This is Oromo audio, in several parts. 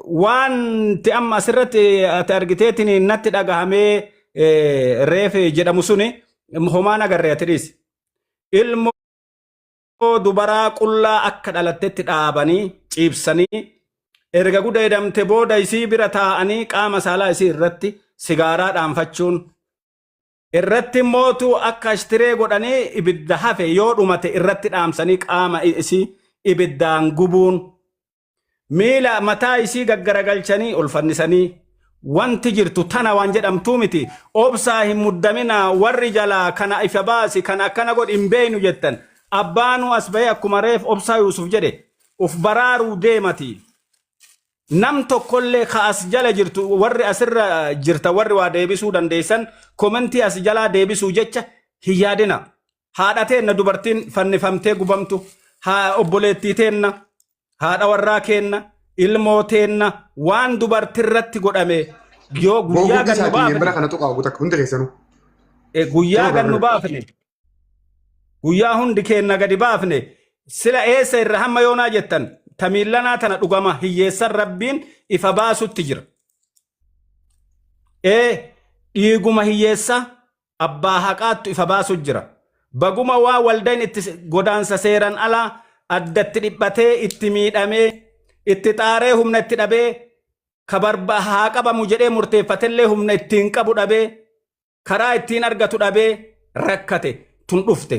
Wanti amma asirratti ati argiteetiin natti dhagahamee reefe jedhamu suni homaan agarree ati dhiisi. Ilmoo dubaraa qullaa akka dhalattetti dhaabanii ciibsanii erga gudeedamte booda isii bira taa'anii qaama saalaa isii irratti sigaaraa dhaanfachuun irratti mootu akka ashtiree godhanii ibidda hafe yoo dhumate irratti dhaamsanii qaama isii ibiddaan gubuun miila mataa isii gaggaragalchanii ol fannisanii wanti jirtu tana waan jedhamtuu miti obsaa hin muddaminaa warri jalaa kana ifa baasi kana akkana godhi hin beeynu jettan abbaanuu as bahee akkuma reef obsaa yuusuf jedhe uf baraaruu deemati nam tokkollee ka as jala jirtu warri asirra jirta warri waa deebisuu dandeessan komentii as jalaa deebisuu jecha hin yaadina haadha teenna dubartiin fannifamtee gubamtu haa obboleettii teenna haadha warraa keenna ilmoo teenna waan dubartirratti godhame yoo Boo guyyaa guddi gannu isaati hin bara baafne kana tuqaa guutak hundi keessanuu. eh, guyyaa Yeroo gannu gaafadha. baafne guyyaa hundi keenna gadi baafne sila eessa irra hamma yoonaa jettan tamiillanaa tana dhugama hiyyeessan rabbiin ifa baasutti jira. Ee dhiiguma hiyyeessaa abbaa haqaattu ifa baasu jira. Baguma waa waldayn itti godaansa seeran alaa addatti dhiphatee itti miidhamee itti xaaree humna itti dhabee ka barba haa qabamu jedhee murteeffatellee humna ittiin qabu dhabee karaa ittiin argatu dhabee rakkate tun dhufte.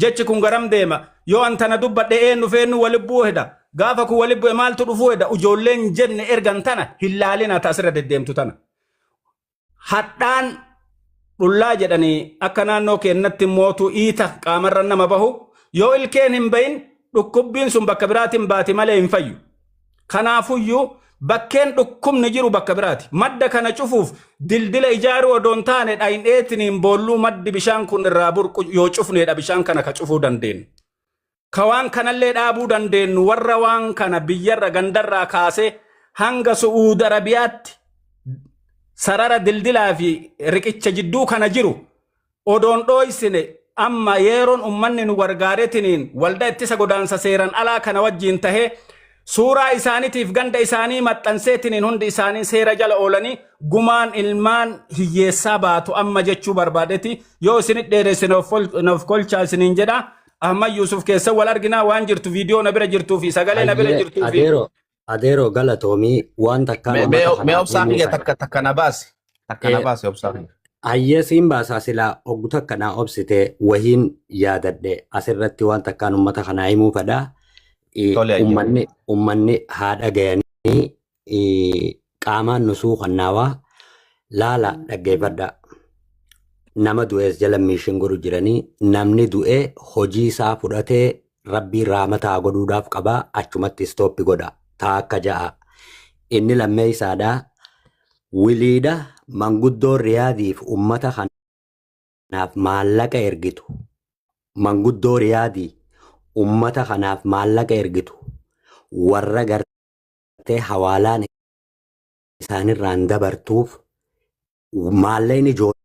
Jechi kun garam deema? Yoo an tana dubbadhe eennu feennu walibbuu heda. Gaafa kun walibbue maaltu dhufuu heda? Ujoolleen jenne ergan tana hin laalina ta asirra deddeemtu tana. Hadhaan dhullaa jedhanii akka naannoo keennatti mootu iita qaamarra nama bahu yoo ilkeen hin bahin dhukkubbiin sun bakka biraatiin baati malee hin fayyu. Kanaafuyyuu bakkeen dhukkubni jiru bakka biraati. Madda kana cufuuf dildila ijaaruu odoo hin taane dhayneetiniin boolluu maddi bishaan kun irraa burqu yoo cufneedha bishaan kana ka cufuu dandeenyu. Ka waan kanallee dhaabuu dandeenyu warra waan kana biyyarra gandarraa kaasee hanga Su'uud Arabiyaatti sarara dildilaa fi riqicha jidduu kana jiru Odoon dhooysine amma yeeroon ummanni nu gargaaretiniin walda ittisa godaansa seeran alaa kana wajjiin tahee suuraa isaanitiif ganda isaanii maxxanseetiniin hundi isaanii seera jala oolanii gumaan ilmaan hiyyeessaa baatu amma jechuu barbaadeti yoo isinit dheeresse naaf kolchaa isiniin jedha Ahmad Yuusuf keessa wal arginaa waan jirtu viidiyoo na bira jirtuu fi sagalee na bira Hayyee jirtuu fi adeero Adeeroo galatoomii waan takkaa Mee mee- uummata mee kanaaf obsaa himuu kiyya fedha. takka takka na baasi. Takka na Eh, baasi obsaa kiyya. Hayyee siin baasaa silaa oggu takka naa obsitee wahiin yaadadhe asirratti waan takkaan uummata kanaa himuu fedha. Eh, Tole ayya. Uummanni uummanni haa dhagayanii eh, Qaamaan nu suukannaawaa laala dhaggeeffadhaa. Nama du'ees jala miishin godhu jiranii namni du'e hojii isaa fudhatee rabbiin raamata haa godhuudhaaf qaba achumatti istooppi godha taa akka ja'a. Inni lammeessaadha wiliidha manguddoon riyaadiif ummata kanaaf maallaqa ergitu manguddoo riyaadii ummata kanaaf maallaqa ergitu warra gartee. qabattee hawaalaan isaanirraan dabartuuf maalleen ijoollee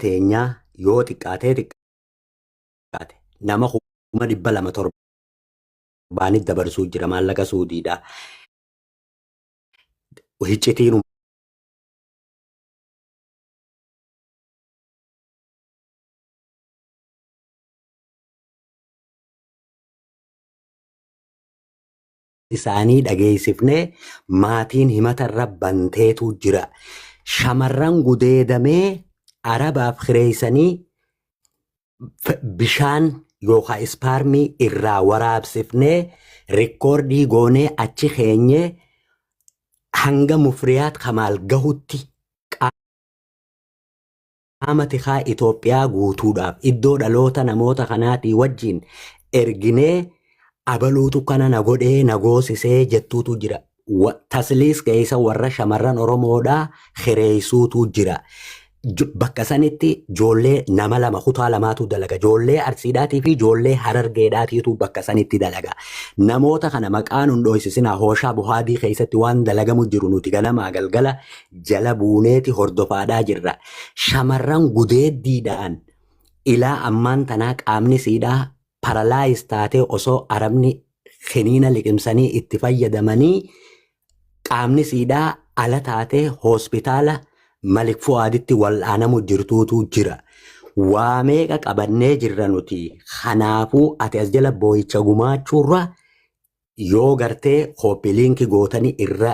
teenyaa yoo xiqqaatee xiqqaate nama kuma dhibba lama torbaanit dabarsuu jira maallaqa suudiidha. Hiccitiin isaanii dhageessifnee maatiin himata irra banteetu jira. Shamarran gudeedamee arabaaf kireessanii bishaan yookaan ispaarmii irraa waraabsifnee rikkoordii goonee achi keenyee hanga mufriyaat kamaal gahutti Qaama tikaa Itoophiyaa guutuudhaaf iddoo dhaloota namoota kanaatii wajjin erginee abaluutu kana na godhee na goosisee jettuutu jira. Tasliis keessa warra shamarran Oromoodhaa kireessuutu jira. Bakka sanitti joollee nama lama kutaa lamaatu dalaga. Joollee Arsiidhaatii fi joollee Harargeedhaatiitu bakka sanitti dalaga. Namoota kana maqaa nun dhooysisinaa hooshaa buhaadii keessatti waan dalagamu jiru nuti ganamaa galgala jala buuneeti hordofaadhaa jirra. Shamarran gudeeddiidhaan ilaa ammaan tanaa qaamni siidhaa paralaayiz taatee osoo Arabni kiniina liqimsanii itti fayyadamanii qaamni siidhaa ala taatee hospitaala Malik Fu'aaditti wal'aanamu jirtuutu jira. Waa meeqa qabannee jirra nuti. Kanaafuu ati as jala booyicha gumaachuurra yoo gartee kooppi liinki gootanii irra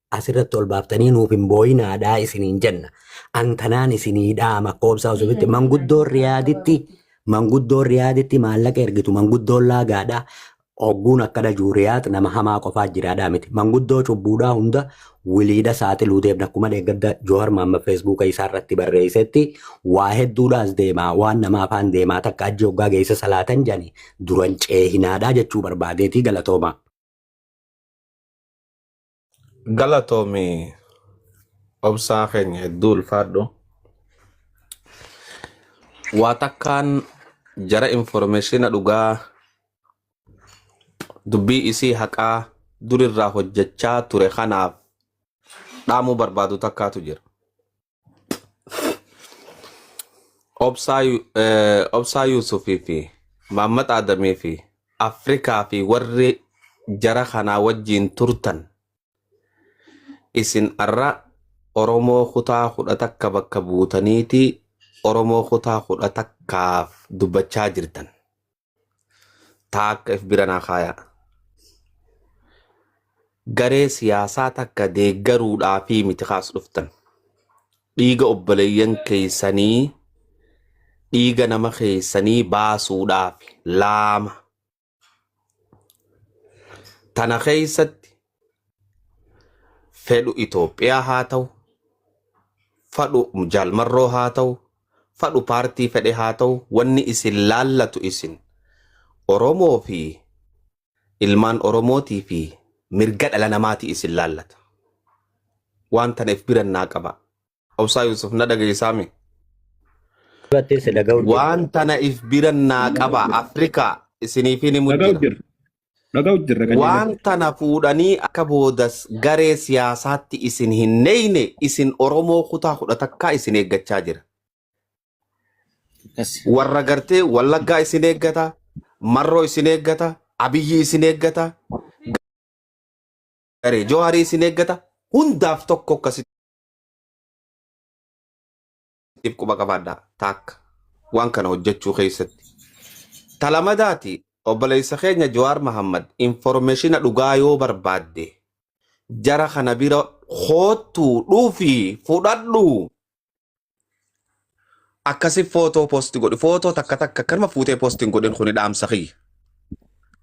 asirratti ol baaftanii nuuf hin booyinaadhaa isiniin jenna. An kanaan isinii dhaama koobsaa osofitti manguddoon riyaaditti manguddoon riyaaditti maallaqa ergitu manguddoon laagaadha. Ogguun akkana jiru riyaad nama hamaa qofaa jiraadhaa miti. Manguddoo cubbuudhaa hunda wiliidha saaxiluu deemna. Akkuma deeggadda Joohar Maamma Feesbuuka isaa irratti barreessetti waa hedduudhaas deemaa waan nama afaan deemaa takka ajji hoggaa geessa salaatan jani duran ceehinaadhaa jechuu barbaadeetii galatoomaa. Galatoomi obsaa keenya hedduu ulfaadhu. Waa takkaan jara informeeshina dhugaa dubbii isii haqaa durirraa hojjechaa ture kanaaf dhaamuu barbaadu takkaatu jira. Obsaa Yu- eh, Obsaa Yuusufii fi Maammat Aadamii fi Afrikaa fi warri jara kanaa wajjiin turtan isin arra Oromoo kutaa kudha takka bakka buutaniiti Oromoo kutaa kudha takkaaf dubbachaa jirtan. taa akka if bira naa kaayaa. Garee siyaasaa takka deeggaruudhaa fi miti kaas dhuftan. Dhiiga obboleeyyan keessanii dhiiga nama keessanii baasuudhaaf laama. Tana keessatti fedhu Itoophiyaa haa ta'u, fadhu jaalmarroo haa ta'u, fadhu paartii fedhe haa ta'u wanni isin laallatu isin Oromoo fi ilmaan Oromootii fi mirga dhala namaati isin laallata. Waan taneef biran naa qabaa. Obsaa Yusuf na dhageessaa mi? Battee si dhaga'u jirti. Waan tana if bira naa qaba Afrikaa isiniifin himu Dhaga'u jira. jirra. Dhaga'u jirra qajeelaa. Waan tana fuudhanii akka boodas garee siyaasaatti isin hin neeyne isin Oromoo kutaa kudha takkaa isin eeggachaa jira. Akkas. Warra gartee Wallaggaa isin eeggata, Marroo isin eeggata, Abiyyi isin eeggata, garee Jawaarii isin eeggata, hundaaf tokko akkasitti tiif quba qabaadhaa taakka waan kana hojjechuu keessatti. Talamadaati obboleessa keenya Jawaar Mahammad informeeshina dhugaa yoo barbaadde jara kana bira koottuu dhufii fudhadhuu akkasi footoo posti godhi footoo takka takka akkanuma fuutee posti hin godhin kuni dhaamsa kiyya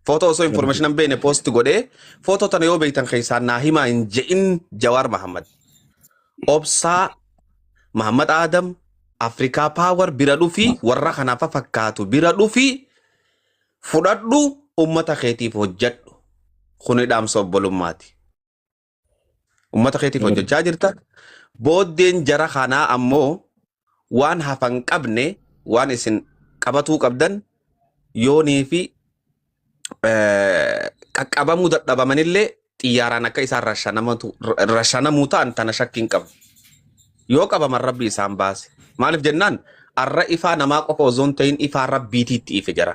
footoo osoo information hin beekne posti godhee footoo tana yoo beektan keessaa naa himaa hin je'in jawaar mahammad obsaa mahammad aadam afrikaa paawar bira dhufi warra kanaaf fakkaatu bira dhufi fudhadhu ummata keetiif hojjadhu kuni dhaamsa obbolummaati Uummata keetiif hojjechaa jirta. Booddeen jara kanaa ammoo waan hafan qabne waan isin qabatuu qabdan yoonii fi qaqqabamuu dadhabamanillee xiyyaaraan akka isaan rashanamuu ta'an tana shakkiin qabu. Yoo qabaman rabbi isaan baase. Maaliif jennaan arra ifaa namaa qofa osoo hin ta'in ifaa rabbiitiitti ife jara.